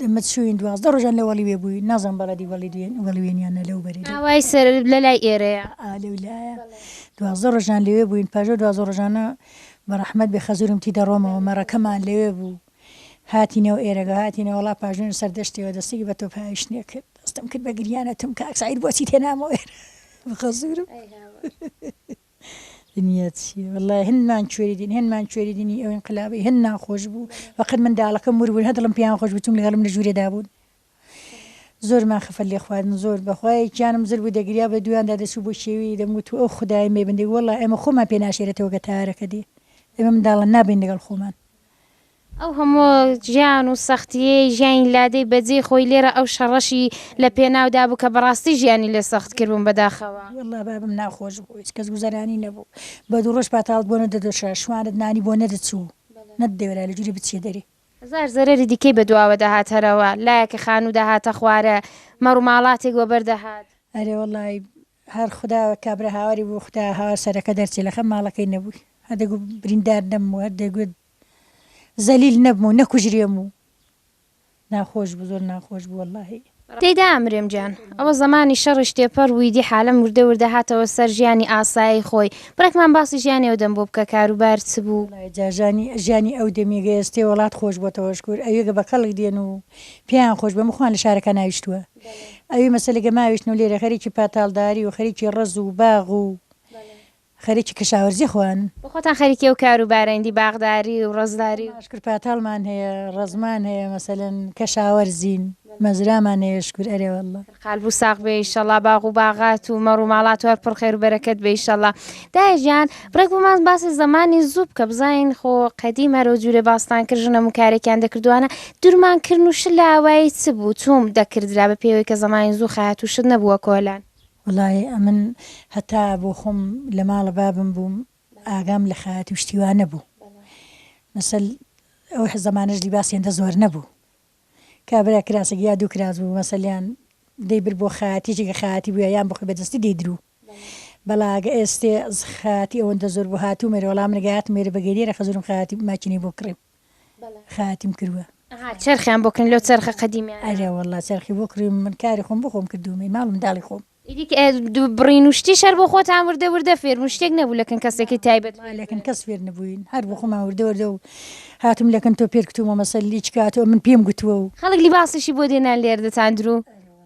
Speaker 5: ئمە چووین دوازدە ڕۆژان لە وەڵیوێ بووین نازانم بەڵێدی وەڵیدوێن وەڵوێن یان نە لەو بەری لەو ئاوای سەر لە
Speaker 1: لای ئێرەیە. ئا لەو لایە
Speaker 5: دوازدە ڕۆژان لەوێ بووین پاش ئەو دوازدە ڕۆژانە بە ڕەحمەت بێ خەزوورم تی دەڕۆمەوە مەڕەکەمان لەوێ بوو. هاتینەوە ئێرەگە هاتینە وەڵا پاژنۆ سەردەشتیەوە دەستێکی بە تۆپ هاویشت نێ کرد دەستم کرد بە گریان ئەتم کاک سەعید بۆچیت هێنامەوە ئێرە بخە زورم ئەی هاوار دنیا چیە وەڵای هەنمان کوێری دین هەنمان کوێری دینی ئەو ئینقلابەی هەن ناخۆش بوو فەقەت منداڵەکەم ور بوون هە دڵم پێیان خۆش بوو چونکە لەگەڵم لە ژوورێدا بوون زۆرمان خەفەت لێ خواردن زۆر بەخوا یەکیانم زر بوو دەگریا بە دویاندا دەچوو بۆ شێوی دەمگوت و ئەو خدای مەی بندێک وەڵا ئێمە خۆمان پێ ناشێرێتەوە گە تارەکە دێ ئێمە منداڵان نابین لەگەڵ خۆمان ئەو
Speaker 1: هەموو ژیان و سەختییەی ژیانی لادێی بە جێی خۆی لێرە ئەو شەڕەشی لە پێناو دا بوو کە بە ڕاستی ژیانی لێ سەخت کردبووم بە داخەوە. وەڵلا بابم ناخۆش
Speaker 5: بوو هیچ کەس گوزەرانی نەبوو بە دوو ڕۆژ پاتاڵت بۆ نەدەدۆشا شوانت نانی بۆ نەدەچوو نەتدەوێرا لە جوری بچیە دەرێ. هەزار زەرەری
Speaker 1: دیکەی بە دواوە دەهات هەرەوە لایەکە خانوو دەهاتە خوارێ مەڕوماڵاتێک وەبەر دەهات. ئەرێ وەڵای
Speaker 5: هەر خودا کابرا هاواری بوو خودا هاوار سەرەکە دەرچێ لەخەم ماڵەکەی نەبووی هەر دەگوت بریندار نەبم و هەر دەگوت زەلیل نەبم و نەکوژرێم و ناخۆش بوو زۆر ناخۆش بوو واللهی تێیدا ئەمرێم
Speaker 1: گیان. ئەوە زەمانی شەڕیش تێپەڕ بووی دی حالەم وردە وردە هاتەوە سەر ژیانی ئاسایی خۆی بڕێکمان باسی ژیانی ئەو دەم بۆ بکە کاروبار چ بوو؟ وەڵای جا ژانی ژیانی
Speaker 5: ئەو دەمی گەێستێ وەڵات خۆش بۆتەوە شکور ئەوێگە بە کەڵک دێن و پێیان خۆش بێ مخوان لە شارەکە ناویشتووە. ئەوی مەسەلە گە ماویشن و لێرە خەریکی پاتاڵداری و خەریکی ڕەز و باغ و خەریکی کەشاوەرزی خۆیانن. بۆ خۆتان خەریکی ئەو کار
Speaker 1: و بارەین دی باغداری و ڕەزداری و. شکر پاتاڵمان
Speaker 5: هەیە، ڕەزمان هەیە مەسەلەن کەشاوەرزین، مەزرامان هەیە شکر ئەرێ واللە. قالبو ساغ بێ
Speaker 1: ئیشەڵا باغ و باغات و مەڕ و ماڵات و هەر پڕ خێر و بەرەکەت بێ ئیشەڵا دایە گیان ڕێک بۆمان باسی زمانی زوو بکە بزانین خۆ قەدیم هەرۆ جوورێ باستان کرد ژنە مکارێکیان دەکردوانە دورمان کرد و شل لە ئاوایی چ بوو چۆم دەکردرا بە پێوەی کە زمانی زوو خەهات و شت نەبووە کۆلان. وەڵاهی ئەمن
Speaker 5: هەتا بۆخۆم لەماڵە بابم بووم ئاگام لە خەیاتی و شتی وا نەبوو مەسەل ئەو زەمانەش لیباس هێندە زۆر نەبوو کابرا کراسەگی یا دوو کراس بوو مەسەلیان دەیبرد بۆ خەیاتیجی کە خەیاتی بووە یان بخۆی بەدەستی دەیدروو بەڵا گە ئێستێ ز خاتی ئەوەندە زۆر بوو هاتوومە ئێرە وەڵا من گە هاتم ئێرە بە گێریێ خەزورم خاتی ماکینەی بۆ کڕیم خاتیم کروە ئەها چەرخیان بۆ کڕین
Speaker 1: لەو چەرخە قەدیمیانە ئەرێ وەڵا چەرخی بۆ
Speaker 5: کڕیم من کاری خۆم بۆ خۆم کردوومەی ماڵ منداڵی خۆم ئیدی کە ئێ دوو بڕین
Speaker 1: و شتیش هەر بۆ خۆتان وردە وردە فێر بوون شتێک نەبوو لە کن کەسێکی تایبەت فێر لە کن کەس فێر
Speaker 5: نەبووین هەر بۆ خۆمان وردە وردە و هاتووم لە کن تۆ پێر کتوومە مەسەل لیچ کاتووە من پێم گوتووە و. خەڵک لیباسیشی بۆ
Speaker 1: دێنان لێردەتان درو.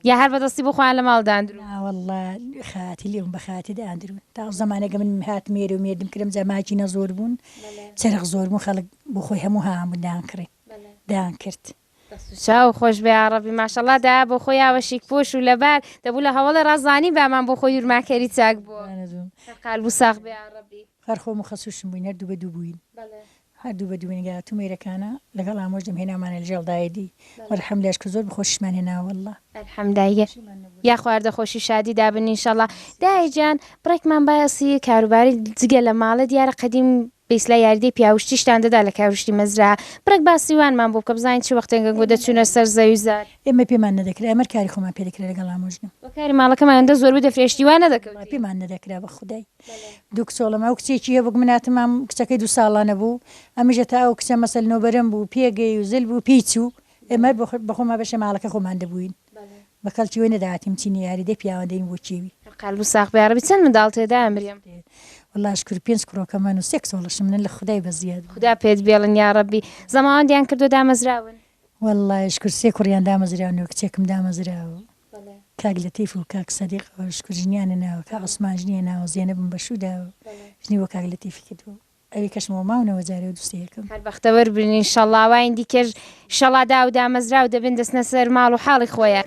Speaker 1: یا هەر بەدەستی بۆ خۆیان لە ماڵ داندرون. ناوەڵڵا
Speaker 5: خاتر لێ بوون بە خاتر داندرون تا ئەو زەمانە کە من هاتم ئێرە و مێردم کرم جا ماکینە زۆر بوون چەرخ زۆر بوون خەڵک بۆ خۆی هەموو هاوان بوون دایان کڕی دایان کرد. دەست و چاو خۆش
Speaker 1: بێ یاڕەبی ماشەڵا دایە بۆ خۆی یاوە شیک پۆش و لەبار دەبوو لە هەوەڵێ ڕا زانی بامان بۆ خۆی ورما کەری چاک بووە هەر قالب و ساخ بێ یاڕەبی. هەر خۆم و خەسووشم
Speaker 5: بووین هەر دوو بە دوو بووین هەردوو بە دوو نیگا تومەیرەکانە لەگەڵ ئامۆژم هێنامانە لەژێڵ دایدی وەلحەم لە ئەشکە زۆر بەخۆشیشمان هێنا واللە. الحم دایە
Speaker 1: یا خواردە خۆشی شادی دابنی ان شاءاللە دایە جیان بڕێکمان بایەسی کاروباری جگە لە ماڵێ دیارە قەدیم بیسلا یاریدەی پیاوشتیشتان دەدا لە کاروشتی مەزرا بڕێک باسی وانمان بۆ بکە بزانین چ وەختێن گەنگۆ دەچونە سەر زەوی زار. ئێمە پێمان نەدەکرا
Speaker 5: ئێمەر کاری خۆمان پێ دەکرا لەگەڵ ئامۆژنم. وە کاری ماڵەکەمانیان دە
Speaker 1: زۆربوو دەفرێشتی وا نەدەکەوتین. وەڵا پێمان نەدەکرا
Speaker 5: بەخودای. دوو کچۆڵم ئەو کچێکی هەبوو کە من هاتمام کچەکەی دوو ساڵانە بوو ئەمیش هەتا ئەو کچە مەسەل نۆبەرم بوو پێگەی و زل بوو پێی چوو ئێمە هەر بە خۆمان بەشە ماڵەکە خۆمان دەبووین بە کەڵکی وی نەدەهاتین بچینە یاریدەی پیاوان دەین بۆ کێوی قەلب و ساغ بێ یاڕەبی
Speaker 1: چەند منداڵ تێدایە مریم. وەڵا شکور
Speaker 5: پێنج کوڕۆکە من و سێ کچۆڵەشم منن لە خودای بەزیاد خودا پێت بێڵن
Speaker 1: یاڕەبی زەماوەندیان کردووە دامەزراون. وەڵا شکور
Speaker 5: سێ کوڕیان دامەزراون و کچێکم دامەزراوە. کاک لەتیف و کاک سەدیق شکور ژنیانە ناوە کاک عوسمان ژنیە ناوە زێنەبم بە شوو داوە و ژنی بۆ کاک لەتیفی کردوە و ئەوی کەشم وە ماونەوە جارێ و دوسێ یەکم. هەر بەختەوەر بن ان
Speaker 1: شەڵا ئەوانی دیکەش ان شەڵا داو و دامەزراو دەبن دەچنە سەر ماڵ و حاڵی خۆیان.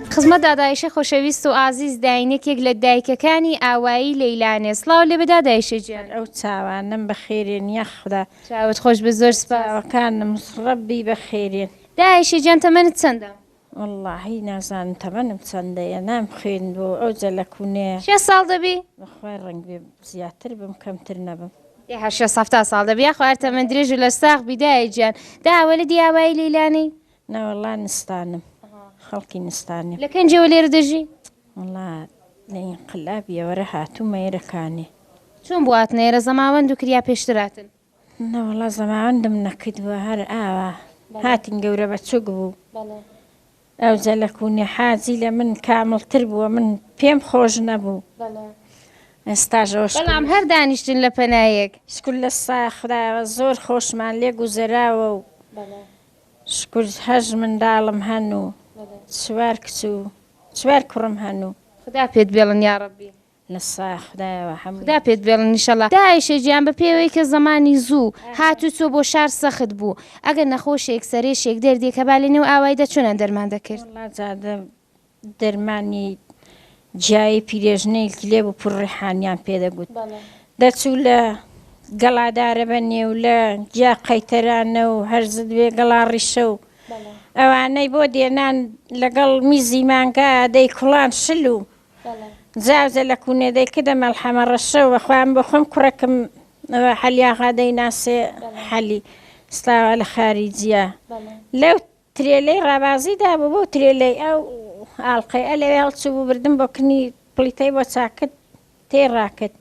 Speaker 1: خزمەت دادایشێ خۆشەویست و ئازیز داین یەکێک لە دایکەکانی ئاوایی لەیلانێ سڵاو لێبێ دادایشێ جیان. ئەو چاوانەم
Speaker 3: بەخێرێن یاخودا. چاوت خۆش بێت زۆر
Speaker 1: سپاس. چاوەکانم
Speaker 3: ڕەبی بەخێرێن. داعشێ جان
Speaker 1: تەمەنت چەندە؟ وەڵاهی
Speaker 3: نازانم تەمەنم چەندەیە نام خوێندوە و ئەوجە لە کوونەیە. شێست ساڵ دەبی؟
Speaker 1: بەخوای ڕەنگبێ
Speaker 3: زیاتر بم کەمتر نەبم. ئێه شێست هەفتا
Speaker 1: ساڵ دەبی یاخوا هەر تەمەن درێژ و لەشساغ بی دایە گیان داوەلەدی ئاوایی لەیلانێی. نا وەڵا
Speaker 3: نستانم خەڵکی نستانیم. لە کەنجەوە لێرە دەژی؟
Speaker 1: وەڵا
Speaker 3: لە ئینقلابیەوەرە هاتوومە ئێرە کانێ. چۆن بوو هاتنە
Speaker 1: ئێرە زەماوەند و کریا پێشتر هاتن؟ نا وەڵا
Speaker 3: زەماوەندم نەکردووە هەر ئاوا هاتین گەورە بەچوک بوو. بەڵێ. ئەوجە لە کوونێ حاجی لە من کامڵتر بووە من پێم خۆش نەبوو. بەڵێ. ئێستاش ئەوە شکل بەڵام هەر
Speaker 1: دانیشتن لە پەنایەک. شکر لە سا
Speaker 3: خودایەوە زۆر خۆشمان لێ گوزەراوە و بەڵێ. شکور هەشت منداڵم هەن و چوار کچ و چوار کوڕم هەن و. خودا پێت بێڵن
Speaker 1: یاڕەبی. نسا
Speaker 3: خودایەوە هەمووی. خودا پێت بێڵن انشاللە.
Speaker 1: داعشە گیان بە پێی ئەوەی کە زەمانی زوو هات و چۆ بۆ شار سەخت بوو ئەگەر نەخۆشێک سەرێشێک دەردێک هەبا لە نێو ئاوایدا چۆنان دەرمان دەکرد. وەڵا جادە
Speaker 3: دەرمانی جیایی پیرێژنەیل ک لێ بپوور ڕیحانیان پێ دەگوت. دەچوو لە گەڵا دارەبە نێو لە جیا قەیتەرانە و هەر زد وێ گەڵا ڕیشە و ئەوانەی بۆ دێنان لەگەڵ میزی مانگا دەی کوڵان شل و جاوجە لە کوونێ دەی کدە مەڵحەمە ڕەشە و وە خوە من بۆ خوەم کوڕەکم وە حەلی ئاغا دەی ناسێ حەلی ستاوا لە خاریجیا لەو ترێلەی ڕابازی دابوو بەو ترێلەی ئەو ئاڵقەیئ لەوێ هەڵچووبوو بردم بۆ کنی پڵیتەی بۆ چاکرد تێی ڕاکرد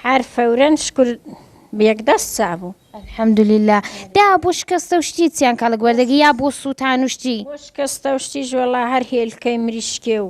Speaker 3: حەر فەورەن شکور بێک دەست چابوو. الحمدللە
Speaker 1: دا بۆ شکەستە و شتی چیان کەڵک وەردەگی یا بۆ سووتان و شتی؟ بۆ شکەستە و شتیش
Speaker 3: وەڵا هەر هێلکەی مریشکێ و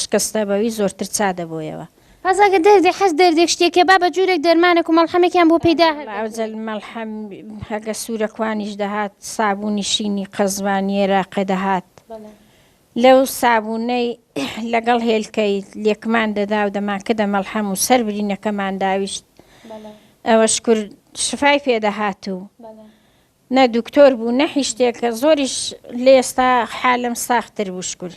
Speaker 3: شکستە بەوی زۆرتر چا دەبۆیەوە. بەس ئەگەر دەردی
Speaker 1: حەز دەردێک شتێکە با بە جورێک دەرمانەک و مەڵحەمێکیان بۆ پەیدا هەر دەکرێت. ئەوجە مەڵحەم
Speaker 3: هەگە سورەکوانیش دەهات سابونی شینی قەزوانی ئێراقێ دەهات لەو سابونەی لەگەڵ هێلکەی لێکمان دەدا و دەمان کردە مەڵحەم و سەر برینەکەمان داویشت ئەوەش کورد شفای پێ دەهات و نە دکتۆر بوو نە حیشتێک کە زۆریش لێ ئێستا حالم ساختر بوو شکر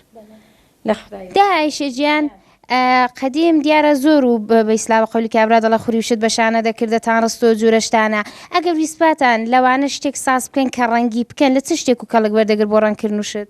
Speaker 3: لە خدای دا ئایشە جیان
Speaker 1: قدیم دیارە زۆر و بە ئیسلام قولی کابرا دەڵە خوریوشت بە شانە دەکردە تا ڕستۆ جورەشتانە ئەگەر ویسپاتان لەوانە شتێک ساز بکەن کە ڕەنگی بکەن لە چ شتێک و کەڵک وەردەگر بۆ ڕەنکردن وشت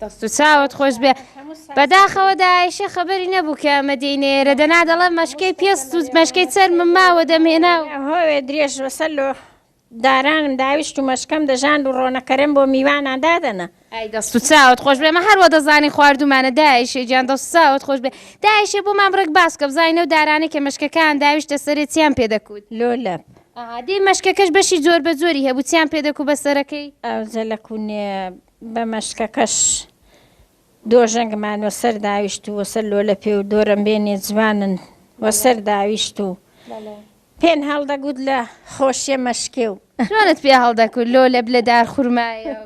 Speaker 3: دەست و
Speaker 1: چاوت خۆش بێ بەداخەوە داعشە خەبەری نەبوو کە ئەمە دێنێرە دەنا دەڵە مەشکەی پێست و مەشکەی چەرمم ماوە دەمێنا و هۆێ درێژ وەسەر
Speaker 3: لۆ دارانم داویشت و مەشکەم دەژاند و ڕۆنەکەرەم بۆ میوانان دادەنا. ئای دەست و چاوت
Speaker 1: خۆش بێ ئەمە هەر وە دەزانین خواردومانە داعشە گیان دەست و چاوت خۆش بێ داعشە بۆمان بڕێک باس کە بزانین ئەو دارانەی کە مەشکەکەیان داویشتە سەرێ چیان پێ دەکوت؟ لۆ لەپ.
Speaker 3: ئەها دەی
Speaker 1: مەشکەکەش بەشی جۆربەجۆری هەبوو چیان پێ دەکوو بە سەرەکەی؟ ئەوجە لە کوونێ
Speaker 3: بە مەشکەکەش دۆژەنگمان وە سەر داویشت و وەسەر لۆلە پێ و دۆرەمبێنێ جوانن وە سەر داویشت و پێن هەڵدەگوت لە خۆشیە مەشکێ و جوانت پێ هەڵدەکوت
Speaker 1: لۆ لە بلە دار خورمایە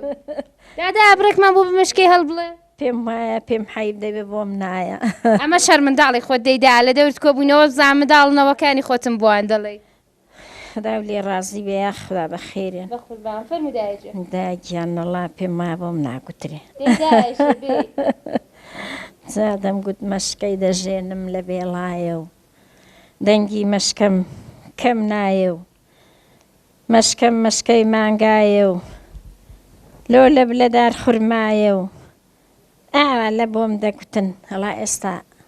Speaker 1: دادا ئابڕێکمان بۆ بمشکەی هەڵ بڵێ پێم وایە پێم
Speaker 3: حیب دەبێ بۆم نایە ئەمە شەرمنداڵی
Speaker 1: خۆت دەیدا لە دەورت کۆبوونەوە بزان منداڵنەوەکانی خۆتم بۆیان دەڵێ خودا
Speaker 3: لێ ڕازی بێ یاخودا بە خێرێ. بەقوربان فەرموو دایە جوێن. دایە گیان نەڵا پێم وایە بۆم ناگوترێ. دەی دایە ژێ بێ. جا دەمگوت مەشکەی دەژێنم لە بێڵایە و دەنگی مەشکەم کەم نایە و مەشکەم مەشکەی مانگایە و لۆ لەب لە دار خورمایە و ئاوا لە بۆم دەگوتن ئەڵا ئێستا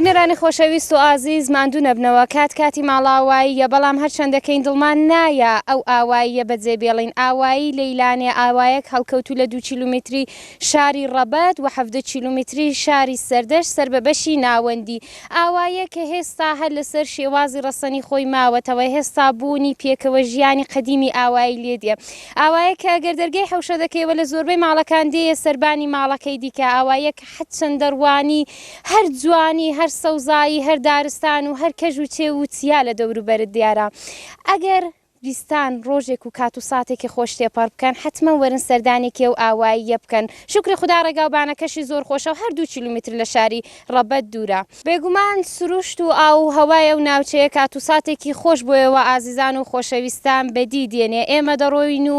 Speaker 1: بینەرانی خۆشەویست و ئازیز ماندوو نەبنەوە کات کاتی ماڵاواییە بەڵام هەرچەند دەکەین دڵمان نایە ئەو ئاواییە بەجێ بێڵین ئاوایی لەیلانێ ئاوایەک هەڵکەوتو لە دوو کیلومتری شاری ڕەبەت و حەڤدە کیلومیتری شاری سەردەشت سەر بە بەشی ناوەندی ئاوایە کە هێستا هەر لەسەر شێوازی ڕەسەنی خۆی ماوەتەوە هێستا بوونی پێکەوە ژیانی قەدیمی ئاوایی لێ دێ ئاوایە کە گەر دەرگەی حەوشە دەکەیەوە لە زۆربەی ماڵەکان دێیە سەربانی ماڵەکەی دیکە ئاوایە کە حەد چەندە ڕوانی هەر جوانی هەر سەوزایی هەر دارستان و هەر کەژ و چێو و چیا لە دەوروبەرت دیارە ئەگەر ویستان ڕۆژێک و کات و ساتێکی خۆش تێپەڕ بکەن حەتمەن وەرن سەردانێکی ئەو ئاواییە بکەن شوکری خودا ڕێگاو بانەکەشی زۆر خۆشە و هەر دوو کیلومتر لە شاری ڕەبەت دوورە. بێگومان سروشت و ئاو و هەوای ئەو ناوچەیە کات و ساتێکی خۆش بۆ ئێوە ئازیزان و خۆشەویستان بەدی دێنێ ئێمە دەڕۆین و